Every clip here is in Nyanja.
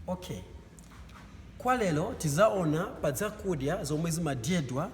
Ok kwa lero tizaona pa zakudya zomwe zimadyedwa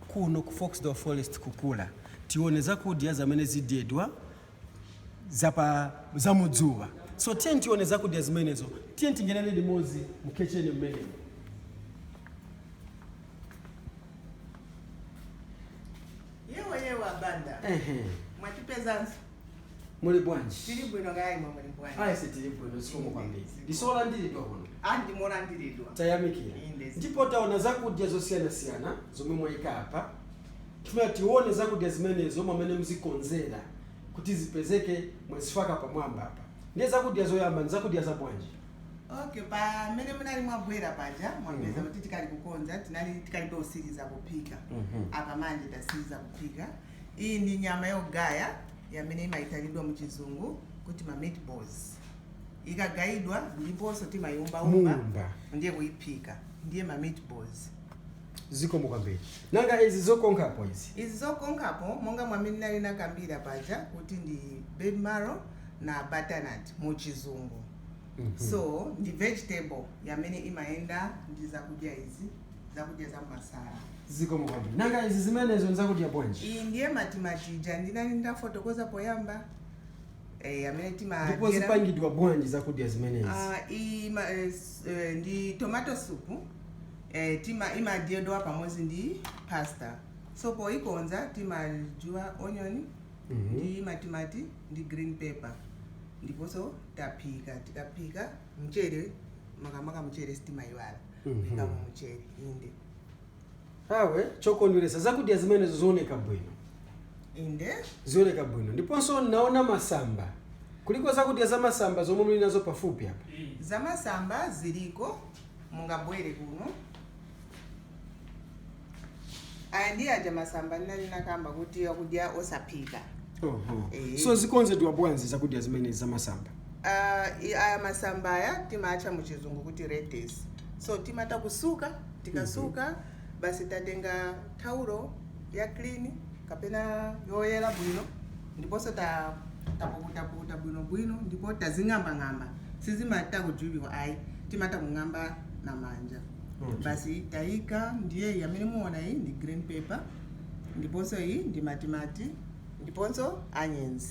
kuno ku Foxdale Forest kukula tione zakudya zamene zidyedwa zamudzuwa so tiyeni tione zakudya zimenezo tiyeni tingenere limodzi mu khecheni mmenemo. Yewa a Banda. Mwatipezanso. muli bwanji tili bwino kaya imwe muli bwanji ayi tili bwino zikomo kwambiri ndisolandiridwa kuno ah ndimolandiridwa tayamikira Inde. ndipo taona zakudya zosiyanasiyana zomwe mwayika apa tifuna tione zakudya zimenezo mwamene muzikonzera kuti zipezeke mwazifaka pamwamba apa ndiye zakudya zoyamba ndi zakudya za bwanji okay pamene munali mwabwera paja mwapeza Mhm. kuti tikali kukonza tinali tikalibe kusiriza kuphika Mhm. apa manje tasiriza kuphika Iyi ndi nyama yogaya yamene imaitanidwa mu chizungu kuti ma meatballs. Ikagayidwa ndiponso timaiumbaumba ndiye kuiphika ndiye ma meatballs. zikomo kwambiri nanga izi zokonkhapo izi Izi zokonkhapo monga mwamene nali nakambira paja kuti ndi baby marrow na butternut mu chizungu. so ndi vegetable yamene imayenda ndi zakudya izi zakudya za masala zikomo kwambiri nanga izi zimenezo nzakudya bwanji iyi ndiye matimati aja ndinali ndafotokoza poyamba eh, amene timadyera ndipo zipangidwa bwanji zakudya zimenezi Ah, iyi ma- eh, s- eh, ndi tomato soup eh, tima imadyedwa pamodzi ndi pasta so poikonza timajuba onion Mhm. ndi matimati ndi green pepper ndiponso tafaka tikafaka mchere makamaka mchere sitimayiwala Mhm. kuikamo mchere inde awe chokondweresa zakudya zimenezo zioneka bwino inde zioneka bwino ndiponso naona masamba kuliko zakudya za masamba zomwe muli nazo pafupi apa zamasamba ziliko mungabwere kuno aya ndi aja masamba ndinali nakamba kuti akudya osaphika Oho. Eh. so zikonzedwa bwanji zakudya zimenezi zamasamba Ah, i- aya masamba aya timatcha mu chizungu kuti lettuce so timata kusuka tikasuka basi tatenga taulo ya clean kapena yoyera bwino ndiponso ta- tapukutapukuta bwinobwino ndipo tazing'ambang'amba sizimata kujubiwa ayi timata kung'amba na manja Okay. basi tayika ndiye iyi amene muona iyi ndi green pepper ndiponso iyi ndi matimati ndiponso anyenzi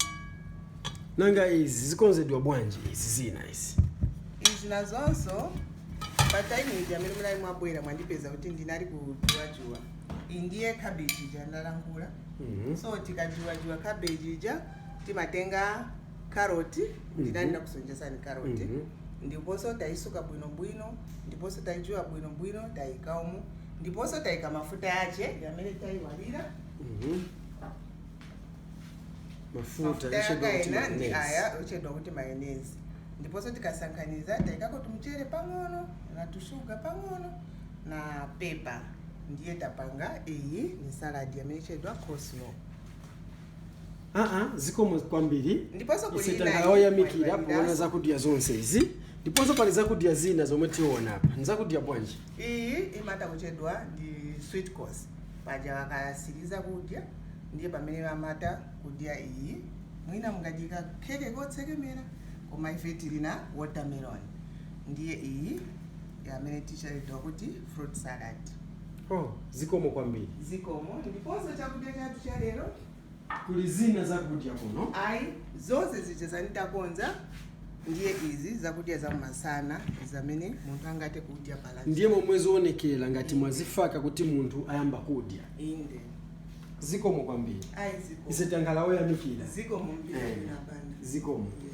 nanga izi zikonzedwa bwanji izi zina izi izi nazonso pa time ija amene munali mwabwera mwandipeza kuti ndinali kujubajuba iyi ndiye cabbage ija ndalankhula Mhm. so tikajubajuba cabbage ija timatenga carrot ndinali nakusonjezani carrot ndiponso taisuka bwinobwino ndiponso taijuba bwinobwino taika umu ndiponso taika mafuta yace yamene taiwalira mafuta yachedwa ndi aya ochedwa kuti mayonezi ndiponso tikasanganiza taikako tumchere pang'ono na tushuga pang'ono na pepa ndiye tapanga iyi ni saladi yamene ichedwa coleslaw aa zikomo kwambiri Ndiponso ise takhala oyamikira kuona zakudya zonse izi ndiponso pali zakudya zina zomwe tiona apa ndi zakudya bwanji iyi imata kuchedwa ndi sweet course paja wakasiriza kudya ndiye pamene amata kudya iyi mwina mungaike keke kotsekemera koma ife tili na watermelon ndiye iyi ndi yamene ichedwa kuti fruit salad Oh, zikomo kwambiri. zikomo ndiponso chakudya chathu cha lero Kuli zina zakudya kuno. ayi zonse zija zenitakonza ndiye izi zakudya za masana zamene munthu angate kudya pala Ndiye momwe zoonekera ngati mwazifaka kuti munthu ayamba kudya. inde Zikomo kwambiri. ayi zikomo Ise tankhala oyamikira. zikomo mpira Eh. inapanda Zikomo. Yeah.